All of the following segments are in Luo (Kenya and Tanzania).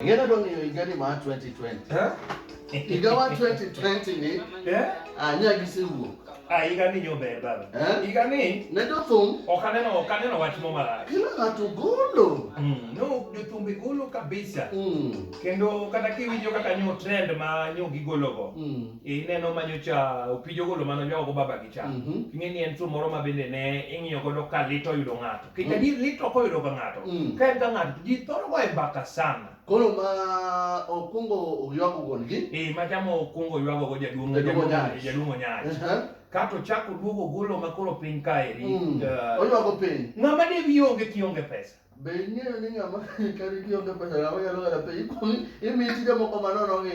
Ngeno dong yo igari ma 2020. Eh? Igawa 2020 ni. Eh? Ah, nya gise wuok. Ah, igani nyo beba. Eh? Igani. Ne do thum. Okane no, okane no wach mo mara. Kila ngatu golo. Mm. No, do thum be golo kabisa. Mm. Kendo kata ki winjo kaka nyo trend ma nyo gi golo go. Mm. E neno ma nyo cha opijo golo mano nyo go baba gi cha. Mm -hmm. Kingeni en thum moro ma bende ne ingiyo go do kalito yudo ngato. Kech adier lit ok oyudo ka ng'ato. Mm. Ka en ka ng'ato to ji thoro goye mbaka sana. Koro ma okungo oywago wuon-gi. Eh, ma chama okungo ywago go jaduong' Jaduong' Onyach. jaduong' Onyach. Aha. Kato ochako duogo ogolo ma koro piny kaeri. Mm. Eh, Oywago piny. Ng'ama ne wiye onge kionge pesa. Be ing'eyo ni ng'ama kari kionge pesa ng'ama nyalo ng'ado piny ikuong' imiyi tije moko manono gi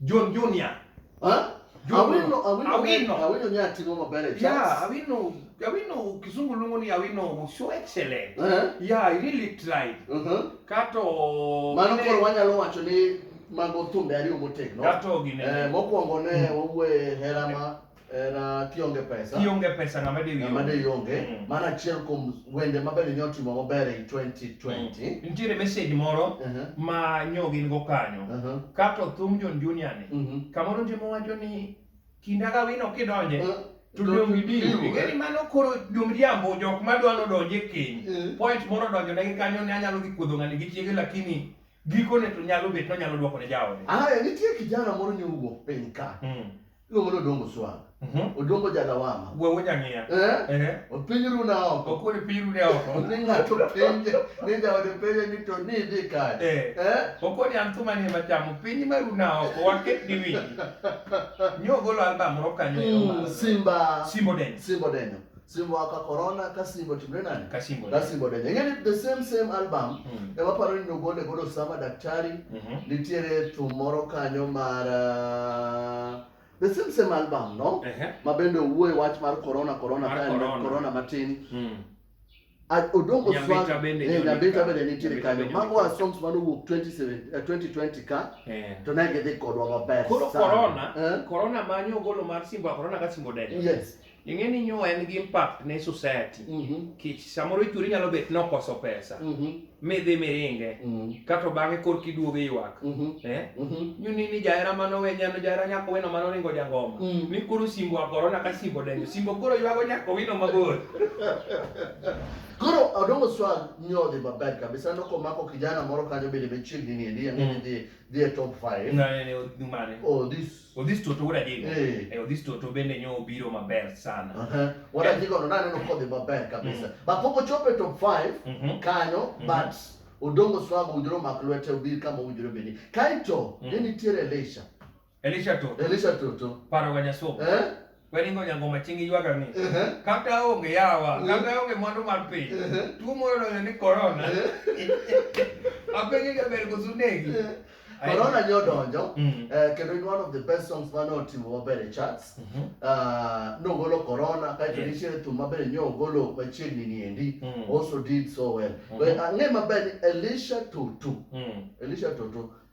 John Junior. Ha? Awino, awino, awino. Awino ni atimo maber e chats. Yeah, awino, awino kisungu lungo ni awino was so excellent. Uh -huh. Yeah, I really tried. Uh mhm. -huh. Kato Mano koro wanyalo wacho ni mago thumbe ariyo motegno. Kato gine. Eh, mokwongo ne mm. wawuoye hera ma Eh, na kionge pesa kionge pesa ng'ama de ng'ama de ionge mm. mano achiel kuom wende ma bende nyotimo maber e 2020 mm. nitiere message moro uh -huh. ma nyogi in go kanyo uh -huh. kato thum John Junior ni uh mhm. -huh. kamoro ndimo wacho ni kinda ga wino kidonje uh -huh. Ngeni mano koro jomriambo jok ma dwano donje keny eh. point moro donjo ne kanyo ne anyalo gi kuodho ngani gi chiege lakini gikone to nyalo bet no nyalo dwoko ne jaode. Ah, nitie kijana moro nyowuok piny ka. Mm. iluongo ni Odongo Swang. Mhm. Odongo Jalawama. Wuowo nyang'iya. Eh? Eh. Opiny runa oko. Okuri piny runa oko. Ni ng'ato penje, ni jaode penje ni to ni idhi kanye. Eh. Eh? Okoni an thuma ni ema chamo piny ma runa oko waket ni winyi. Nyo golo album moro kanyo. Mm, Simba. Simbo Denyo. Simbo Denyo. Simbo aka corona ka Simbo timre nani? Ka Simbo. Ka Simbo denye. Ngeni the same same album. Mm. Ema paro ni nogole godo sama daktari. Mm -hmm. Nitiere thum moro kanyo mar uh, the same same album no? Uh -huh. Ma bende owuoe wach mar corona corona mar corona. Corona, corona matin. Mm. Odongo Swag eh, Nyambita bende nitiere kanyo. Mago a songs mane owuok 2020 eh, ka eh. to ne gidhi kodwa maber. Koro corona, eh? corona manyo ogolo mar Simba corona ka Simbo Dede. Yes. ing'e ni nyuwa en gi impact ne society Mhm. kich samoro ichuri nyalo bet nokoso pesa Mhm. midhi miringe Mhm. kato bang'e korki duogo iywak Mhm. eh? Mhm. nyuni ni jahera manowe nyano jahera nyako weno manoringo jangoma Mm. ni koro simbo agorona ka simbo denyo simbo koro ywago nyako wino mabor Koro Odongo Swag nyodhi maber kabisa no komako kijana moro kanyo bende machiegni ni endi ang'e ni dhi dhi e top 5. mane Oh this Odhis Toto wuod Ajigo. Eh. Eh, Odhis Toto bende nyo obiro maber sana. Aha. Wuod Ajigo no naneno kodhi maber kabisa. But pok ochopo e top 5 Mhm. kanyo Mhm. but Odongo Swago owinjore omak lwete obir kama owinjore obedi. Kaito Mhm. ne nitiere Elisha. Elisha Toto. Elisha Toto. Paro wa Nyasoko. Eh? Welingo nyango machingi ywaga ni kata onge yawa kata onge mwandu mar piny tuo moro donjo ni korona apenjo jaber koso negi Corona nyo donjo mm. eh, kendo in one of the best songs mane otimo maber e charts mm-hmm. ah, nogolo Corona kaeto nitiere thum maber nyo ogolo machiegni ni endi mm. also did so well mm-hmm. ang'e maber ni Elisha Tutu mm. Elisha Tutu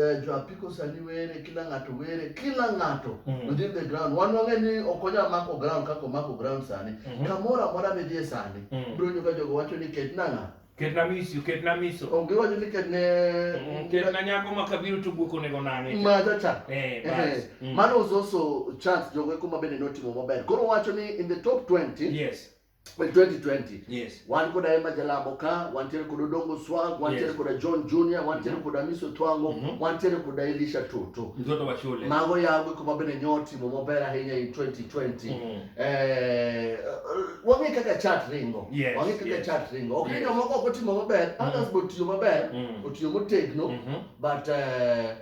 eh, jo apiko sani were kila ng'ato were kila ng'ato Mhm. within the ground wan wang'e ni ok onyal mako ground kaka omako ground sani Mhm. kamoro amora midhie sani Mhm. ibiro winjo ka jogo wacho ni ket nang'a Ketna miso, ketna miso. onge wacho ni ket ne Mm, Ketna nyako ma kabiro to guok onego nang'e. majacha Eh, bas. Mm. mano was also chance jogo eko ma bende notimo maber koro wacho ni in the top 20 Yes. 2020 yes. wan koda Emma Jalabo ka wantiere koda Odongo Swag wantiere yes. koda John Junior wantiere mm -hmm. koda Miso Twango mm -hmm. wantiere koda Elisha Toto mtoto wa shule mago yago kuma bende nyotimo maber ahinya in 2020 mm -hmm. eh, wang'e kaka chat ringo yes. wang'e kaka yes. chat ringo ok yes. jomoko ok otimo maber mm -hmm. others botiyo maber mm -hmm. otiyo motegno mm -hmm. but eh,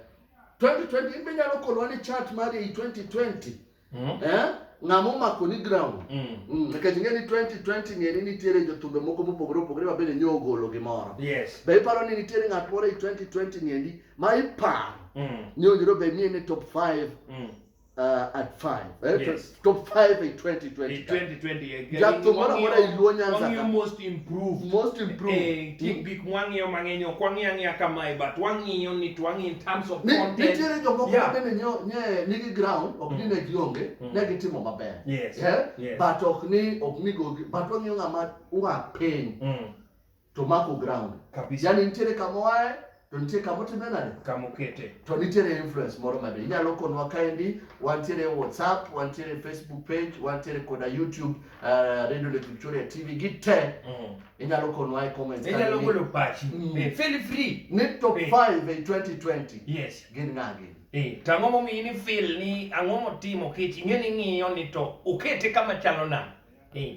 2020 in be nyalo kolwa ni chat mari 2020 mm. eh? ng'ama omako ni ground mm. mm. nikech ing'e ni 2020 ng'e ni nitiere jothumbe moko mopogore opogore ma bende nyo ogolo gimoro yes. be iparo ni nitiere ng'at moro e 2020 ng'endi ma iparo mm. ni owinjore obed ni en e top 5 mm. uh, at 5 eh? yes. top 5 e 2020 2020 Jap thum moro amora e Luo Nyanza ka. most improved. Most improved. Eh, kik hmm? gik mwang'iyo mang'eny ok wang'iyo ang'iya kamae but wang'iyo ni to wang'iyo in terms of content. Nitiere jomoko ma bende nye nigi ground ok ni hmm. ne gionge hmm. ne gitimo maber. Yes. Yeah? Yes. But ok ni ok ni go but wang'iyo ng'ama ua piny. to mako ground kabisa. Yani nitiere kama wae to nitie kama otime nade, kama okete, to nitiere influence moro mabe. Inyalo konwa kaendi, wantiere WhatsApp, wantiere Facebook page, wantiere koda YouTube, uh, Radio Lake Victoria TV gi te mm. Inyalo konwa e comments, inyalo golo pachi, mm. Eh, feel free ni top 5 eh. in 2020 yes, gin ng'agi Eh, to ang'o momiyo ni feel ni ang'o motimo kech ing'e ni ng'iyo ni to okete kama chalo nade eh.